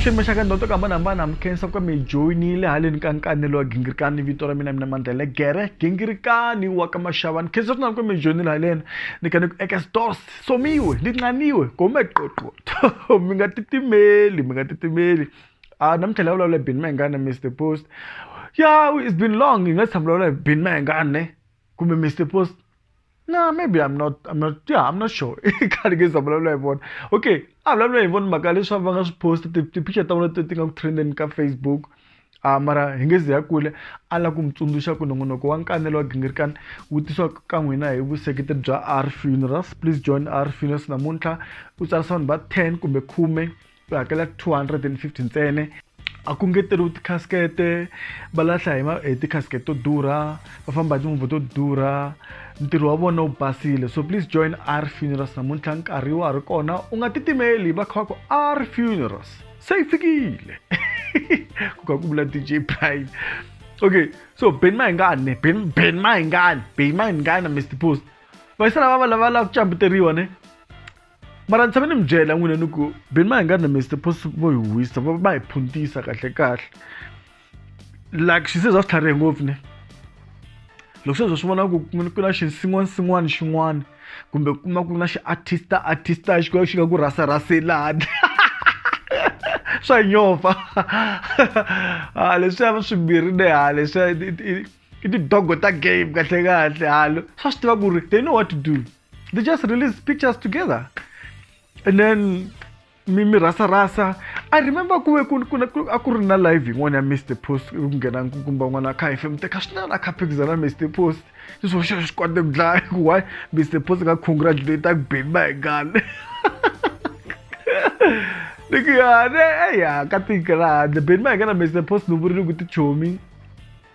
xiyimo xa ka ndoto ka hambanahambana mi khensa ku ka mi joyinile haleni ka nkanelo wa gingirikani vito ra mina mina mandlele gere gingirikani wa ka maxava ni khensa swinene ku mi joyinile haleni ni ka ni ku eka store somiwe linqaniwe gome qoqo to mi nga titimeli mi nga titimeli a ah, namuntlha la vulavula bin mayengana mr post ya it's been long hi nga tshama vulavula bin mayengana ne kumbe mr post no maybe i'm not i'm not yeah i'm not sure i khale ke za vulavula hi vona okay a vulavula hi vona mhaka leswaku va nga swi posta ti-picture ta vona ti nga ku trendeni ka facebook A mara hi nge zi hi ya kule a lava ku mi tsundzuxa ku nongonoko wa nkanelo wa gingirikani wu tisiwa ka n'wina hi vuseketeri bya R Funerals please join R Funerals namuntlha u tsarisa vanhu va 10 kumbe khume u hakela 250 ntsene a ku ngeteriwi tikhasikete va lahla hi hi tikhasikete to durha va famba hi timovha to durha ntirho wa vona wu basile so please join R Funerals namuntlha nkarhi wa ha ri kona u nga titimeli va kha va ku R Funerals se ifikile ku kha ku vula dj prime okay so ben mayingane ben ben mayingane ben mayingane mr post vayisala va va lava lava ku cambuteriwa ne mara ni tshame ni mi byela n'wina ni ku ben mayingane mr post vo hi wisa va va hi phuntisa kahle kahle like she says after ngopfu ne loko sweswo swi vona ku ku na xinsin'wana sin'wana xin'wana kumbe ku kuma ku na xiartista artista xi xi nga ku rhasa rhaselani swa nyova ha leswiya swimbirhi ne ha leswiya i tidogo ta game kahle kahle halo swa swi tiva ku ri they know what to do they just release pictures together and then mi mi rhasa rhasa i remember ku ve ku ku ku a ku ri na live yin'wana ya Mr Post ku nghena kumba n'wana kha hi fem teka swinene a kha phikizana Mr Post ni swo xo swi kota ku dlaya ku why Mr Post ka congratulate ku bimba hi gale ni ku ya ne ya ka tiko ra handle bimba hi gana Mr Post ni vurile ku tichomi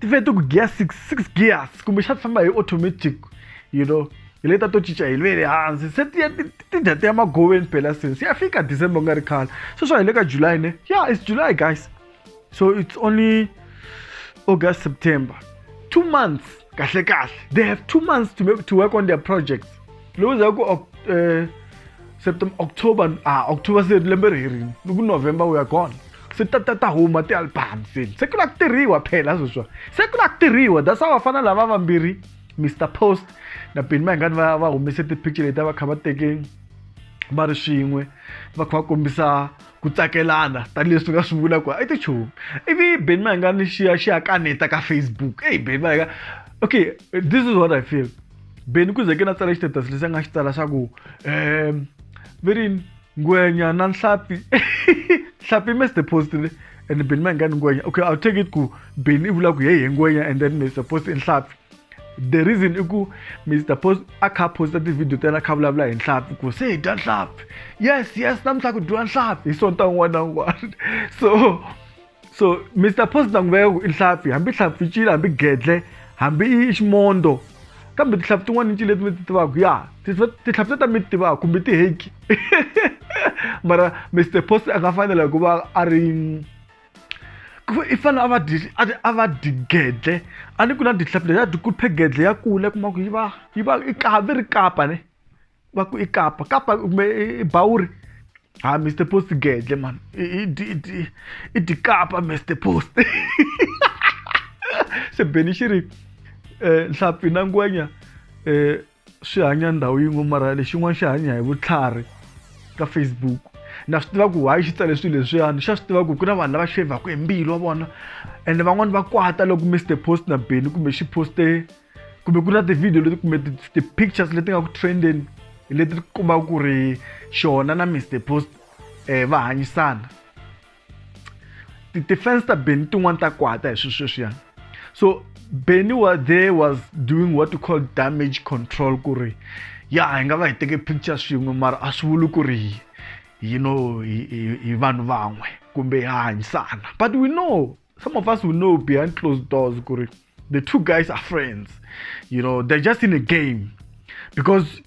ti ve ti ku gear six six gears kumbe xa ti famba hi automatic you know hi leta to cinca hi lwele hansi se ti ti dya ti ya magoveni phela se se ya fika december ku nga ri khale sweswo hi le ka july ne ya it's july guys so it's only august september two months kahle kahle they have two months to, make, to work on their projects lowu za ku uh, september october ah october se lembe ri herini ni ku november we are gone se ta ta ta huma ti-album se se ku la ku tirhiwa phela sweswiwa se ku la ku tirhiwa that's how vafana lava vambirhi mr post na beni mayingani va va humese ti-picture leti a va kha va teke va ri swin'we va kha va kombisa ku tsakelana tanihileswi ni nga swi vula ku i tichomi ivi beni mayingani xi ya xi ya kaneta ka facebook eyi beni mayinga okay this is what i feel beni ku ze ke na tsala xitatus lexi a nga xi tsala xa ku um verini ngwenya na nhlapi nhlapi mi supposed le and beni ma ngani ngwenya okay i'll take it ku beni i vula ku yeye ngwenya and then mi supposed i nhlapi the reason i ku mr post a kha posta tivhidiyo ta yena a kha vulavula hi nhlapi ku se hi dya nhlapi yes yes namuntlha ku dyiwa nhlapi hi sonta un'wana na un'wana so so mr posta nguva ya ku i hlampfi hambi hlampfi cile hambi gedle hambi i ximondo kambe tihlampfi tin'wana ni cile leti mi ti tivaka ya tihlampfi leta mi ti tivaka kumbe tiheki mara mr post a nga fanela ku va a ri i fanele a va dyi a va dyi gedle a ni ku na tihlampfi leti a dyi kuphe gedle ya kula kuma ku yi va yi va i kapa ri kapa ne va ku i kapa kapa kumbe i bawuri ha mr post gedle mani i dyi kapa mr post se beni xi ri um nhlampfi na ngwenya um swi hanya ndhawu yin'we mara lexin'wana xi hanya hi vutlhari ka facebook na swi tiva ku why xi tsale swilo leswiyani xa swi tiva ku ku na vanhu lava xevhaka hi mbilu wa vona ende van'wani va kwata loko mr post na beni kumbe xi poste kumbe ku na tivhidiyo leti kumbe ti-pictures leti nga ku trendeni leti kombaka ku ri xona na mr post um va hanyisana ti-fans ta beni tin'wani ta kwata hi swisweswiya so beni wa there was doing what you call damage control ku ri ya hi nga va hi teke picture swin'we mara a swi vuli ku ri you know hi vanhu van'we kumbe ha hanyisana but we know some of us will know behind closed doors the two guys are friends you know they're just in a game because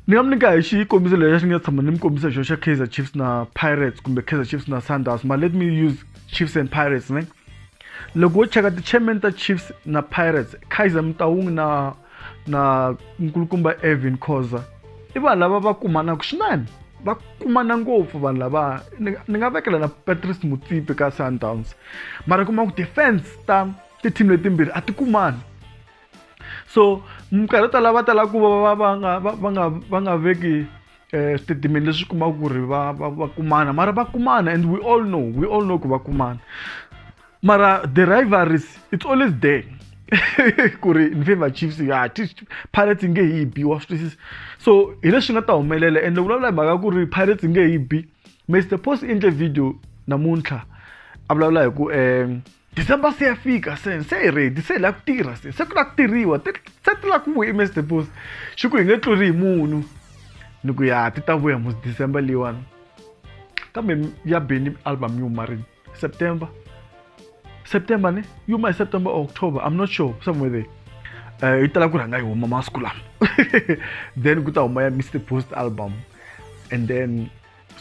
ni nga mi nyika hi xikombiso lexi xi nga tshama ni mi kombisa xo xa kaizer chiefs na pirates kumbe kaizer chiefs na sunders ma let me use chiefs and pirates ne loko wo cheka ti-chairman ta chiefs na pirates kaizer mutawungi na na nkulukumba Evan Khoza i vanhu lava va kumanaka swinene va kumana ngopfu vanhu lava ni nga vekela na Patrice Mutsipe ka Sundowns mara kuma ku defense ta ti-team letimbirhi a ti kumani so minkarhi yo tala va tala ku va va va nga va va nga va nga veki um switatimende leswi kumaka ku ri va va va kumana mara va kumana and we all know we all know ku va kumana mara the rivalries it's always there ku ri ni favor chiefs ya pirates nge hi bi wa swi twisisa so hi leswi nga ta humelela ende vulavula hi mhaka ku ri pirates nge hi bi mr post endle video namuntlha a vulavula hi ku um december se ya fika se se hi redi se hi lava ku tirha se se ku lava ku tirhiwa se ti lava ku vuya mr post xi ku hi nge tluri hi munhu ni ku ya ti ta vuya mos december leyiwani kambe ya beni album yi huma rini September. September ne? You might September or October. I'm not sure. Somewhere there. Uh, yi tala ku rhanga yi huma masiku lama then ku ta huma ya mr post album and then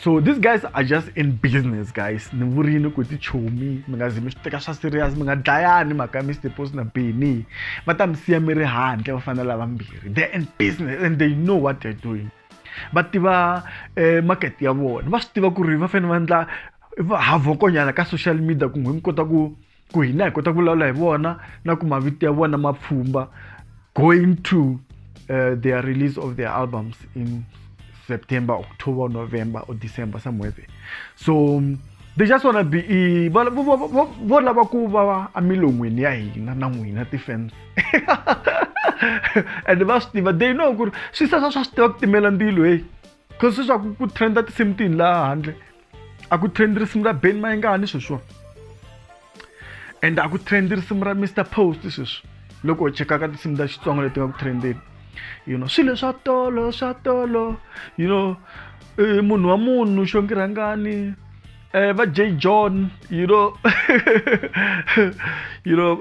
so these guys are just in business guys ni vurini ku tichomi mi nga zi mi swi teka swa serious mi nga dlayani mhaka mr post na beni va ta mi siya mi ri handle va fanele lavambirhi they're in business and they know what they're doing va tiva eh, market ya vona va swi tiva ku ri va fanele va endla havokonyana ka social media ku n'wi mi kota ku ku hina hi kota ku vulavula hi vona na ku mavito ya vona ma pfhumba going to uh, their release of their albums in september october november or december somewhere there so they just wanna be vo lava ku va emilon'wini ya hina na n'wina ti-fans and va swi tiva they know ku ri swi sasa swa swi tiva ku timela ndilo heyi cause swi swa ku ku trenda tinsimu tihi laha handle a ku trend risimu ra ben mayingani sweswiwa and a ku trend risimu ra mr post sweswi loko u chekaka tinsimu ta xitsonga leti nga ku trendeni you know swilo swa tolo swa tolo you know eh, munhu wa munhu xongirhangani eh, va j john you know you know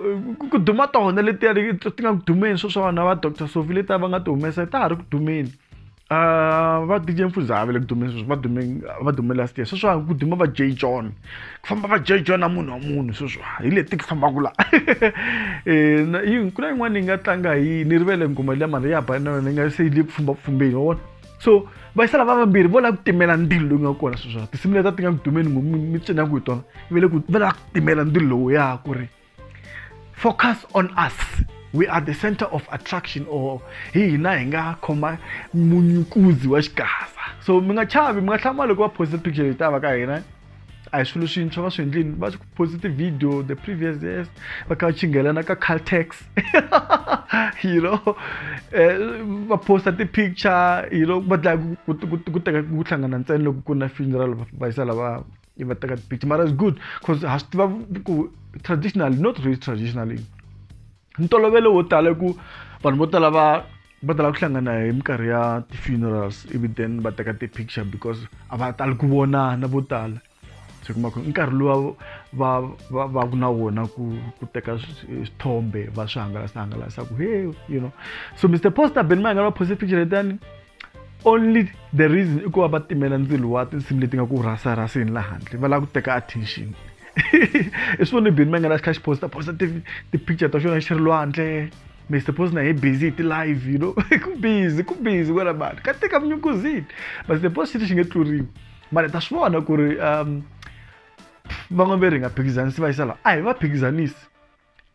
ku duma tona letiya ti nga ku dumeni swo swa vana va doctor sofi letiya va nga ti humesa ta ha ri ku dumeni um va dj mfuza a ve le ku dumeni sweswi va dume va dume last year sweswa ku duma va j john ku famba va j john a munhu wa munhu sweswa hi leti ku fambaka la um ku na yin'wana yi nga tlanga hi ni rivele ngoma liya mali ya ba na yona yi nga se yi le ku fambapfumbeni wa vona so vaxisala va vambirhi vo lava ku timela ndzilo lowu nga kona sweswona tinsimu leta ti nga ku dumeni ngo mi cina ku hi tona va le ku va lava ku timela ndzilo lowu ya ku ri focus on us we are the center of attraction or hi hina hi nga khoma munyukuzi wa xigasa so mi nga chavi mi nga hlama loko va posta picture leyi ta va ka hina a hi swilo swintshwa va swi endlini va ku posite video the previous years va kha va chingelana ka caltex you know eh, va posta ti-picture you know va dlaya ku teka ku hlangana ntsena loko ku na funeral va yisa lava va teka ti-picture mara is good because ha swi tiva ku traditionally not really traditionally ntolovelo wo tala i ku vanhu vo tala va va tala ku hlangana hi minkarhi ya ti-funerals ivi then va teka ti-picture because a va tali ku vonana vo tala se kuma ku nkarhi luwa va va va ku na wona ku ku teka swithombe va swi hangalasa hangalasa ku he you know so mr poster ben mayanga va poste picture letani only the reason i ku va va timela ndzilo wa tinsimu leti nga ku rhasarhaseni la handle va lava ku teka attention i swi voni bini ma nga na xi kha xi posta posta ti-picture ta xona xi ri lwandle Mr. Post na hi busy hi ti-live you know ku busy ku busy kwala mani ka teka vunyukuzini but the post xiti xi nge tluriwi mara ta swi vona ku ri um van'wameri hi nga phikizanisi va yisa laha a hi va phikizanisi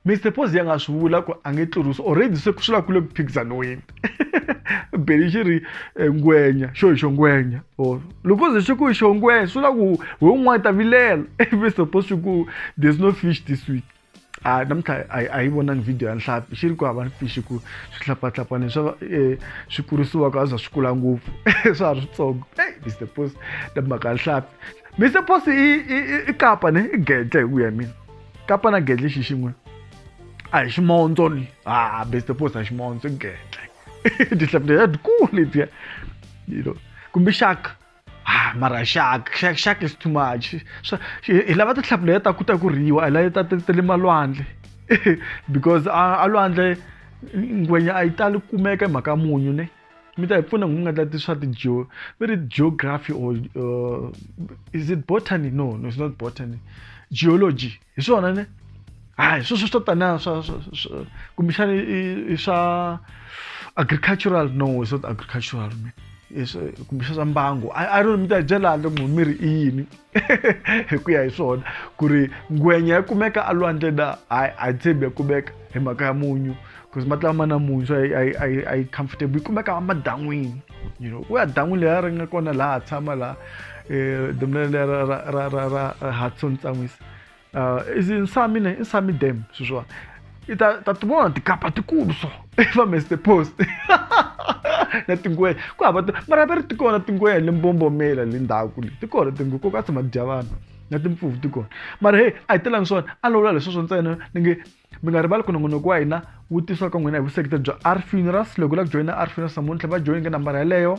Mister Pozi a nga swi vula ku a nge tlurisi already se swi la ku le ku phikizaniweni beli xi ri eh, ngwenya xo hi xo ngwenya or loko ze xi ku hi xo ngwenya swi la ku hi un'wana ta vilela Mister Pozi xi ku there's no fish this week a namuntlha a yi vonangi video ya nhlapi xi ri ku hava fish ku swihlapahlapani swa eh, swi kurisiwaka a za swi kula ngopfu swa ha ri switsongo ey Mister Pozi na mhaka ya nhlapi Mister Pozi i kapa ne i gede hi ku ya mina kapa na gedle xi xin'we a hi ximondzo ni a best post a ximondzo gedle tihlapi leti a ti kulu letiya you know kumbe xaka ah mara xaka xaka xaka is too much hi lava tihlapi leti ta ku ta ku riwa hi lava ta ta le malwandle because a lwandle ngwenya a yi tali kumeka hi mhaka munyu ne mi ta hi pfuna hi nga tlati swa ti-geo ve ri geography or uh, is it botany no no it's not botany geology hi swona ne hayi sweswo swo tana swa kumbexana i swa agricultural no it's not agricultural kumbexana swa mbango i don't mi ta hi byela handle ku mi ri i yini hi ku ya hi swona ku ri ngwenya ya kumeka alwandle na hayi a yi tshembi ya kumeka hi mhaka ya munyu because mati lama na munyu so a yi comfortable yi kumeka madan'wini you know ku ya dan'wini leyi ri nga kona laha tshama laha um eh, domlele ra ra ra ra ra hudson tsan'wisa uh, is nsami ne nsami dam swilo swiwani i ta ta ti vona tikapa tikulu so i va mester post na tingwenya ku hava mara va ri ti kona tingwenya le mbombomela le ndhaku le ti kona tingwe ko ka tshama ti dya vanhu na timpfuvu ti kona mara hey a hi telangi swona a lawula leswi swo ntsena ni nge mi nga rivali ku nongonoko wa hina wu tisiwa ka n'wina hi vuseketeri bya r funerals loko u lava ku joyina r funerals namuntlha va joyinge nambara yeleyo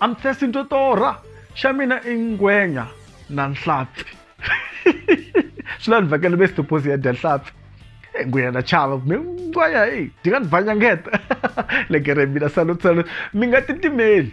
I'm thirsty to torha xa mina i ngwenya na nhlampfi swi la ni vhakela ve sitoposi ya dya nhlampfi e ngwenya na chava mi ngwenya e dyi nga ni bvanyangeta le gere mina salut salut mi nga titimeli